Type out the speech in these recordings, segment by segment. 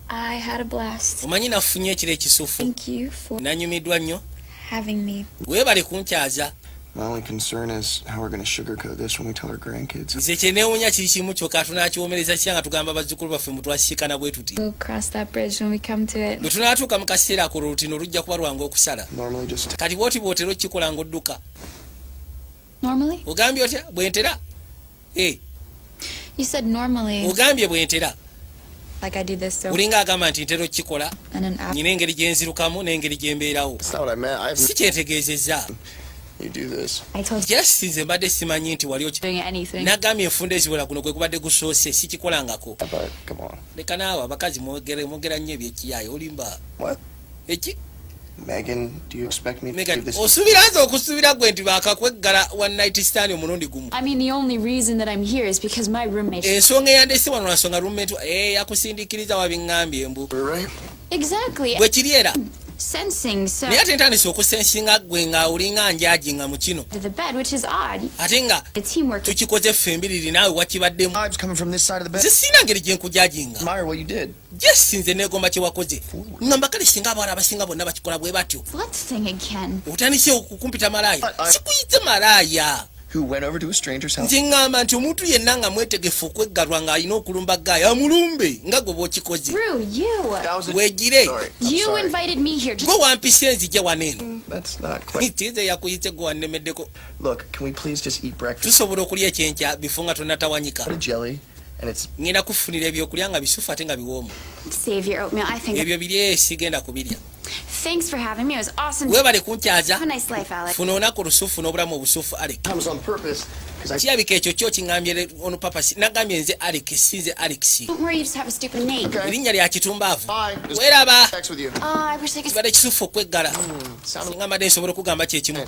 I had a blast. Omanyi nafunye ekiro ekisufu. Thank you for Nanyumidwa nnyo. Having me. Webale kunkyaza. My only concern is how we're going to sugarcoat this when we tell our grandkids. Nze kyenewunya kiri kimu kyoka tunakiwomereza kya nga tugamba bazzukulu baffe mbu twasisikana bwe tuti. We'll cross that bridge when we come to it. Bwe tunaatuuka mu kaseera ako olutino lujja kuba lwangu okusala. Normally just. Kati bw'oti bw'otera okukikola ng'odduka. Normally? Ogambye otya bwe ntera? eh. ogambye bwentera olinga agamba nti ntera okukikola nyina engeri gyenzirukamu n'engeri gyembeerawo si kyentegeezezza just nze mbadde simanyi nti wali nagambye enfunda eziwera guno gwe gubadde gusoose sikikolangako leka naawe abakazi mwogera nnyo ebyekiyaye olimba eki Megan, do you expect me Megan, to do this? Osubira nze okusubira gwe nti bakakweggala one night stand omulundi gumu. I mean the only reason that I'm here is because my roommate. Ensonga eh, eyandese wano nasonga roommate eh yakusindikiriza wabingambye mbu. Right. Exactly. Bwe kiri era. Sensing so. Naye ate ntandise okusensinga gwe nga olinga njaji nga mu kino. The bed which is odd. Ate nga tukikoze ffe embiriri naawe wakibaddemu. Vibes coming from this side of the bed. Zisina ngeri gye nkujajinga. Admire what you did. Yes, nze negomba kyewakoze ngamba kale singa abawala abasinga bonna bakikola bwe batyo otandise okukumpita malaaya sikuyite malaaya nze ŋŋamba nti omuntu yenna nga mwetegefu okweggalwa ng'alina okulumba gaaya amulumbe nga gwe bw'okikoze weegire gwe wampisa enzija wano eno mm, tize yakuyise gwe wannemeddeko tusobola okulya ekyenkya bifo nga tonatawanyika ngenda kufunira ebyokulya nga bisufu ate nga biwoomu ebyo biri esigenda kubirya Thanks for having me. It was awesome. Wewe bali kunchaza. Have a nice life, Alex. Funa onako rusufu no buramu busufu Alex. Comes on purpose. Chia bike chocho chingambye ono papa si nagambye nze Alex sinze Alex. Don't worry, you just have a stupid name. Okay. Linya lya kitumbavu. Wera ba. Oh, I wish I could. Bade kisufu kwegala. Mm, Ngamba de sobora kugamba kye kimu.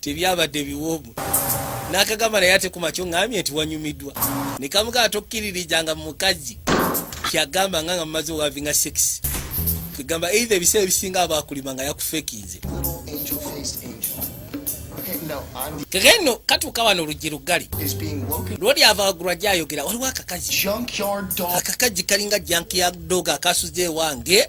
tebyabadde biwoomu nakagamba naye ate kumakyo ngambye nti wanyumiddwa nekamugaa tokkiririjanga mukazi kyagamba nga nga mumaze owavinga sex kegamba eitha ebiseera ebisinga abakulima nga yakufekinze kegeno katuuka wano oluggi luggale lwoli avagulwa gyayogera waliwo akakazi akakazi kalinga jankyard dog akasuze ewange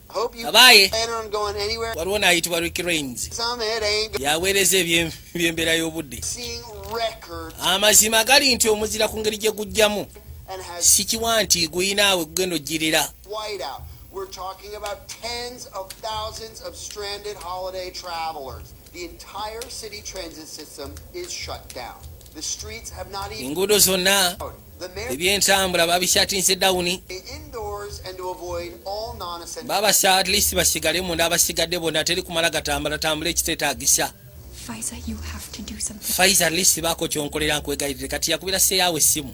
abaaye waliwo n'ayitibwa rick rains yaweereza eby'embeera y'obudde amazima gali nti omuzira ku ngeri gye gujjamu sikiwa nti guyinaawe gugenda ojjirira We're talking about tens of thousands of stranded holiday travelers. The entire city transit system is shut down. enguudo zonna ebyentambula babishatinze dawuni babasa at least basigale munda abasigadde bona teri kumala gatambula tambula ekiteetagisa faiza at least baako kyonkolera nkwegayirire kati yakubira seyawo essimu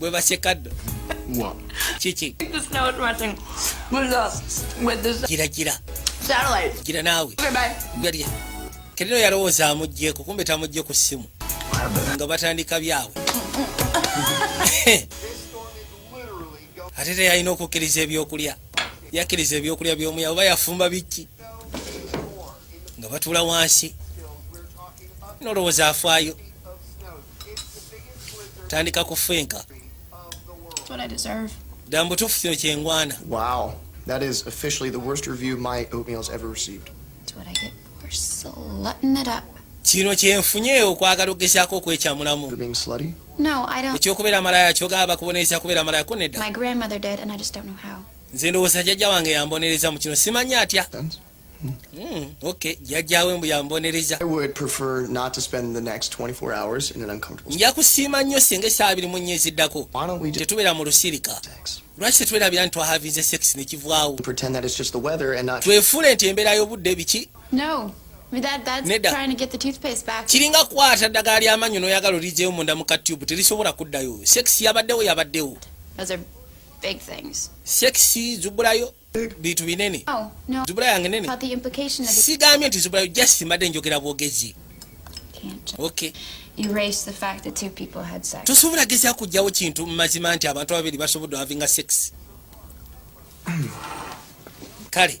gwe basekaddo kiki gira gira gira naawe galya kerino yalowooza amugyeko kumbe tamugye ku ssimu nga batandika byabwe ate teyalina okukkiriza ebyokulya yakkiriza ebyokulya byomuya oba yafumba biki nga batula wansi nolowooza afaayo tandika kufenka dda mubutuufu kino kyengwana wow that is officially the worst review my oatmeals ever received kino kyenfunye okwagala okugezaako okwekyamulamu ekyokubeera amalaya kyogaba bakubonereza kubeera amalaya ko nedda nze ndowooza jajja wange yambonereza mu kino simanya atya Mm, okay. Jajjawe mbu yambonereza. I would prefer not to spend the next 24 hours in an uncomfortable state. Njakusiima nnyo singa essaawa biri mu nnyezi ddako. Tetubeera mu lusirika. Lwaki tetwerabira nti twahavinze sex ne kivwawo? Pretend that it's just the weather and not Twefuule nti embeera y'obudde biki? No. kiringa kwata ddagala ly'amanyo n'oyagala olijeyo munda mu ka tube terisobola kuddayo sex yabaddewo yabaddewo sex zubulayo bintu binene oh, zubula yange nene sigambye nti zubula just mbadde njogera bwogezi tosobola gezya kujjawo kintu mumazima nti abantu ababiri basobodde havinga sex kale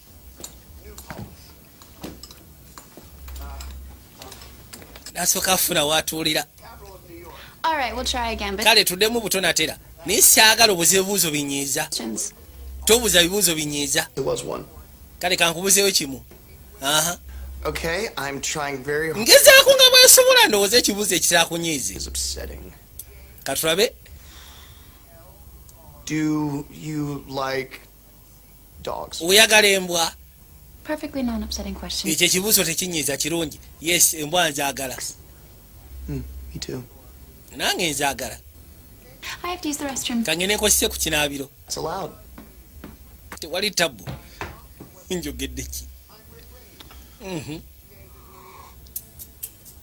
nasooka afuna watuulira kale tuddemu butonatera naye saagala obuza ebibuuzo binyiiza tobuza bibuuzo binyiiza kale kankubuzeyo kimu ngezaako nga bwesobola ndowooza ekibuuzo ekitakunyiize katulabe oyagala embwa ekyo ekibuuzo tekinyiiza kirungi yes embwa nzagala hmm, nange nzagala kangene nkozese ku kinaabiro tewali tabbu njogedde ki mhm.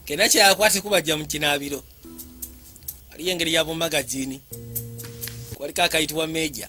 kena kyakwate kubajja mu kinaabiro waliyo engeri ya bumagazini kwaliko akayitibwa meja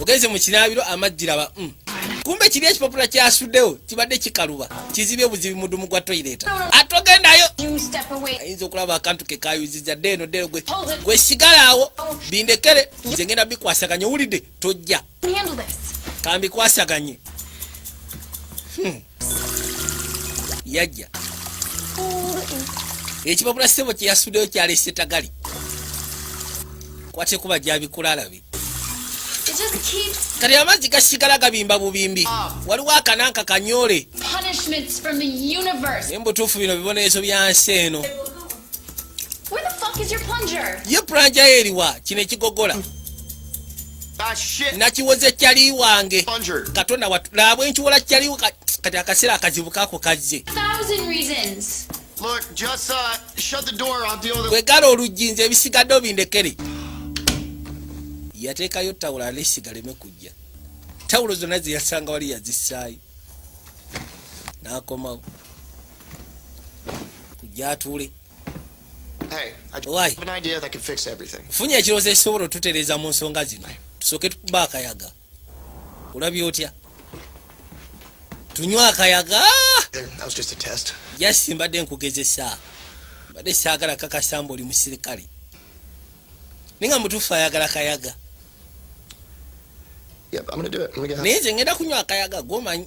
ogenze mu kinaabiro amaggi laba mm. kumbe kiri ekipapula kyasuddewo kibadde kikaluba kizibye obuzibi mudumu gwa toyireta ate ogendayo ayinza okulaba akantu ke kayuziza dde eno ddero gwe gwe sigalaawo bindekere nze ngenda bikwasaganya owulidde tojja kambikwasaganye hmm. yajja ekipapula sebo kyeyasuddewo kyalese tagali kwatekuba gyabikula alabi kati amazzi gasigala gabimba bubimbi ah. waliwo akananka kanyole naye mubutuufu bino bibonerezo bya nsi eno ye planja eriwa kino ekigogola ah, nakiwoze kyali wange katonda watu labwe nkiwola kyali kati akaseera akazibu kako kazze Look, just uh, shut the door. I'll deal with it. Kwegala oluggi nze ebisigadde obindekere. Yateekayo tawulo alesiga leme kujja. Tawulo zonna ze yasanga wali yazissaayo. N'akomawo. Kujja atuule. Hey, I do Why? have an idea that can fix everything. Funye ekirowoozo ekisobola otutereeza mu nsonga zino. Tusooke tukuba akayaga. olabye otya tunywa akayaga jasi mbadde nkugezesa mbadde saagala kakasamba oli musirikale naye nga mutuufu ayagala kayaga naye nze ngenda kunywa akayaga gomanyi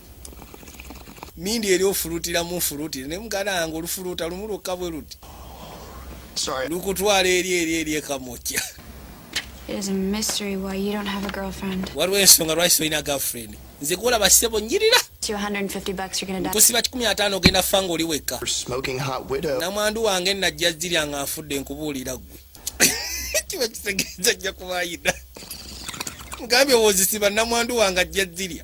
mindi eri ofulutira mu nfulutire naye muganda wange olufuluuta lumu lwokka bwe luti lukutwala eri eri eri ekamokya waliwo ensonga lwaki tolina girlfriend nze kuolaba sebo nyirira kusiba kikumi ataano ogenda fa nga oli wekka namwandu wange najja zirya nga nfudde nkubuulira gwe kiba kitegeeza ajja kubayina mugambye wozisiba namwandu wange ajja zirya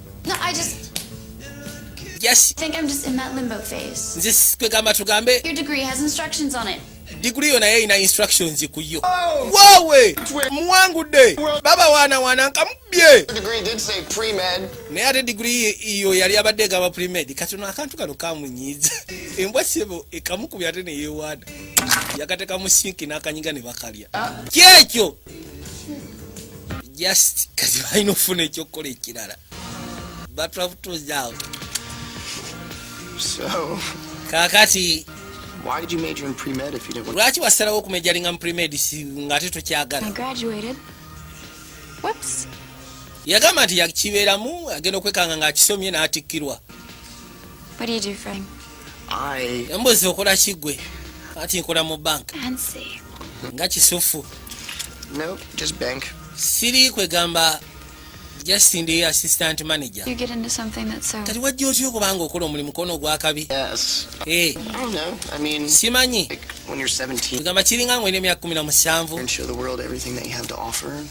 No, I just just think I'm just in that limbo phase. This kwegamba tugambe. Your degree has instructions on it. Degree yona yeye ina instructions ku yo. Oh. Wowe! Mwangu de. Baba wana wana nkamubye. The degree did say pre-med. Ne ate degree iyo yali abadde gaba pre-med. Kati no akantu kano kamunyiza. Embwa sebo ekamukubya ate ne yewada. Yakateka musinki n'akanyiga ne bakalya. Ah. Kyekyo. just kati balina okufuna ekyokukola ekirala kakati lwaki wasalawo okumejalinga mu premed ngaate tokyagala yagamba nti yakibeeramu agenda okwekanga ng'akisomye n'atikkirwa embuzi okola kigwe ati nkola mu bank nga kisufu siri kwegamba just ndi assistant manager kati wajja otya okubanga okola omulimu kona ogwakabi eh. simanyi egamba kiringa ngwena emyaka kumi na musanvu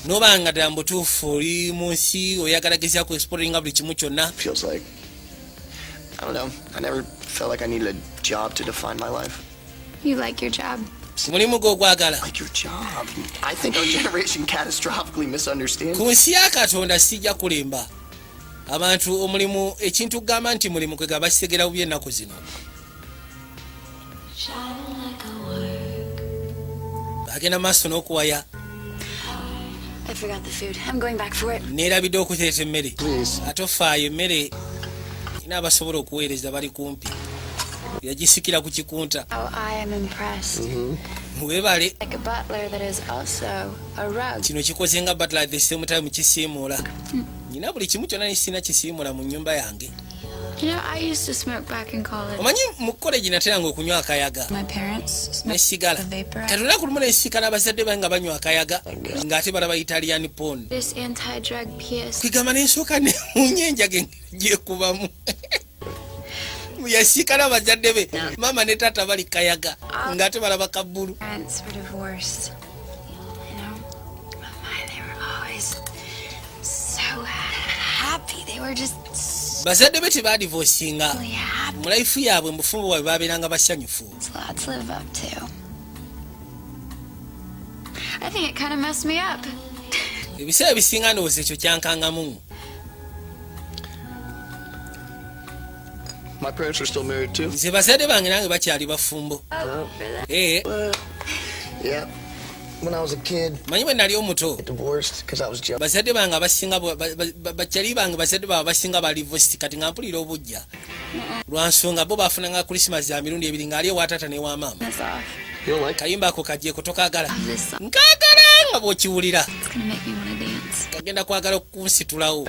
nobanga ddala mubutuufu oli mu nsi oyagala gezya ku exporinga buli kimu kyonna I don't know. I never felt like I needed a job to define my life. You like your job. mulimu gw'ogwagala ku nsi ya katonda sijja kulimba abantu omulimu ekintu kugamba nti mulimu kwegaba kitegera bubi ennaku zino agenda maaso n'okuwaya neerabidde okuteeta emmere ate ofaayo emmere ina abasobola okuweereza bali kumpi yagisikira ku kikunta oh, mm-hmm. webale kino kikoze nga batla the same time kisiimuula nyina buli kimu kyonna nisina kisiimuula mu nyumba yange omanyi mu kolegi nateranga okunywa akayaga nesigala kati olunaku lumu nesikala abazadde bange nga banywa akayaga ng'ate balaba italian pon kwegamba nensooka nemunya enjaga gyekubamu yasikala abazadde be maama ne taata bali kayaga ng'ate balaba kabbulu bazadde be tebadivosinga mu life yaabwe mu bufumbo bwabwe babeeranga basanyufu ebiseera ebisinga ndowooza ekyo kyankangamu My parents are still married too. Nze bazade bange nange bakyali bafumbo. Oh, eh. Yeah. When I was a kid. Manyi bwe nali omuto. Divorced because I was jealous. Bazade bange abasinga bakyali bange bazade bange abasinga bali divorced kati nga mpulira obujja. Lwa nsonga bo bafuna nga Christmas ya mirundi ebiri nga ali ewa taata ne wa maama. Kayimba ako kaje kutokagala. Nkagala nga bw'okiwulira. Kagenda kwagala okunsitulawo.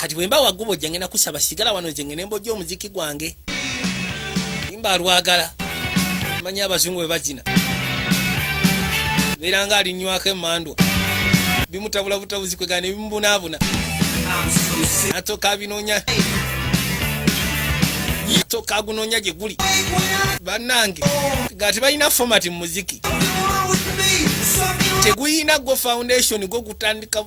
kati bwemba wagubo jange nakusaba sigala wano zenge nemboja omuziki gwange imba alwagala manya abazungu bebazina beera nga alinywako emandwa bimutabula butabuzi kwegana nebimubunaabuna atoka abinonya atoka agunonya gyeguli banange nga tebalina fomati mu muziki teguyina gwo foundation gwo gutandika